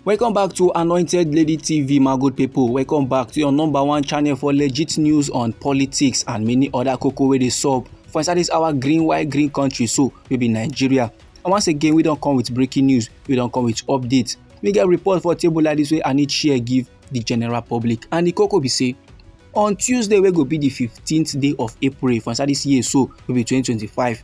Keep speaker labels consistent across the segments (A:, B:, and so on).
A: welcome back to anointed lady tv my good people welcome back to your number one channel for legit news on politics and many other cocoa wey dey sup for inside this our green white green country so we be nigeria and once again we don come with breaking news we don come with updates we get report for table like this wey i need share give the general public and the cocoa be say on tuesday wey go be the fifteenth day of april for inside this year so wey be twenty twenty five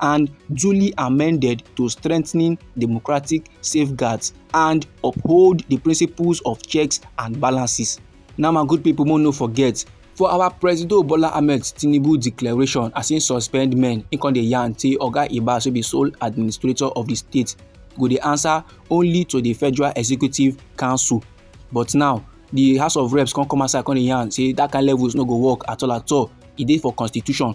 A: and duly amended to strengthen democratic safeguards and uphold the principles of checks and balances. Now, my good people, no forget for our presido bola ahmed tinubu declaration as im suspend men im come dey yarn say oga ibas wey be sole administrator of di state go dey answer only to di federal executive council but now di house of reps come come outside come dey yarn say dat kain levels no go work at all at all e dey for constitution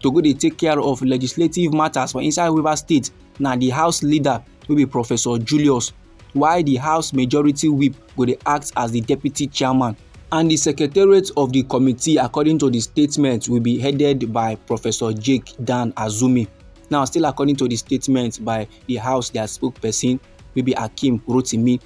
A: to go dey take care of legislative matters for inside rivers state na di house leader wey be professor julius while di house majority whip go dey act as di deputy chairman and di secretariat of di committee according to di statement will be headed by professor jake dan azumi now still according to di statement by di house dia spokesperson wey be akeem rotimi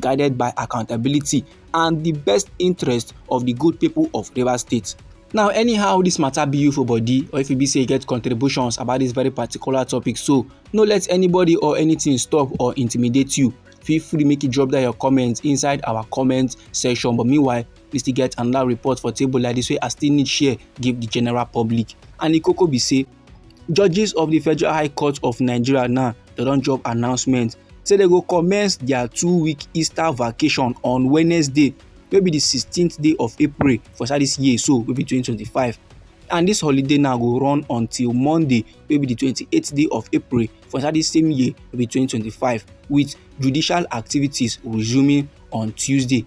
A: guided by accountability and the best interest of the good people of Rivers State. Now, anyhow, this matter be you for body, or if you be say you get contributions about this very particular topic, so no let anybody or anything stop or intimidate you. Feel free make you drop down your comments inside our comment section. But meanwhile, we still get another report for table like this way I still need share give the general public. And the cocoa be say Judges of the Federal High Court of Nigeria now they don drop announcement say they go commence their two-week Easter vacation on Wednesday wey be the 16th day of April for inside this year so wey be 2025 and this holiday now go run until Monday wey be the 28th day of April for inside this same year wey be 2025 with judicial activities resuming on Tuesday.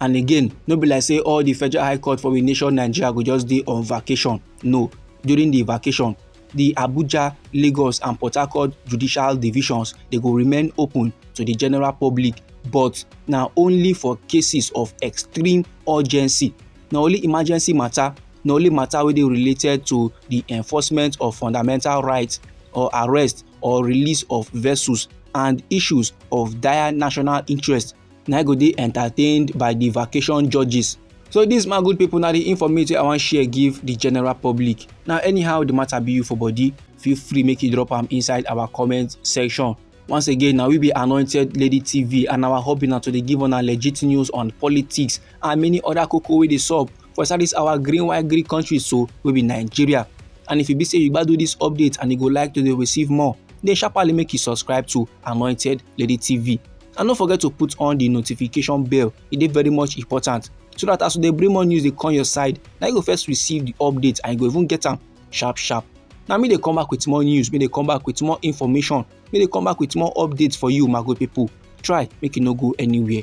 A: and again no be like say all the federal high court for we nation nigeria go just dey on vacation no during the vacation the abuja lagos and port harcourt judicial divisions dey go remain open to the general public but na only for cases of extreme urgency na only emergency matter na only matter wey dey related to the enforcement of fundamental rights or arrest or release of vessels and issues of dire national interest na e go dey entertained by di vacation judges so dis my good pipo na di informate wey i wan share give di general public na anyhow di matter be you for body feel free make you drop am inside our comment section once again na we be anointed lady tv and our hobby na to dey give una legit news on politics and many other koko wey dey sup for inside dis our green white green country so wey be nigeria and if e be say you gbadu dis update and you go like to dey receive more then sharparly make you subscribe to anointed lady tv and no forget to put on the notification bell e dey very much important so that as we dey bring more news dey come your side na you go first receive the update and you go even get am sharp sharp na me dey come back with more news me dey come back with more information me dey come back with more updates for you my good people try make you no go anywhere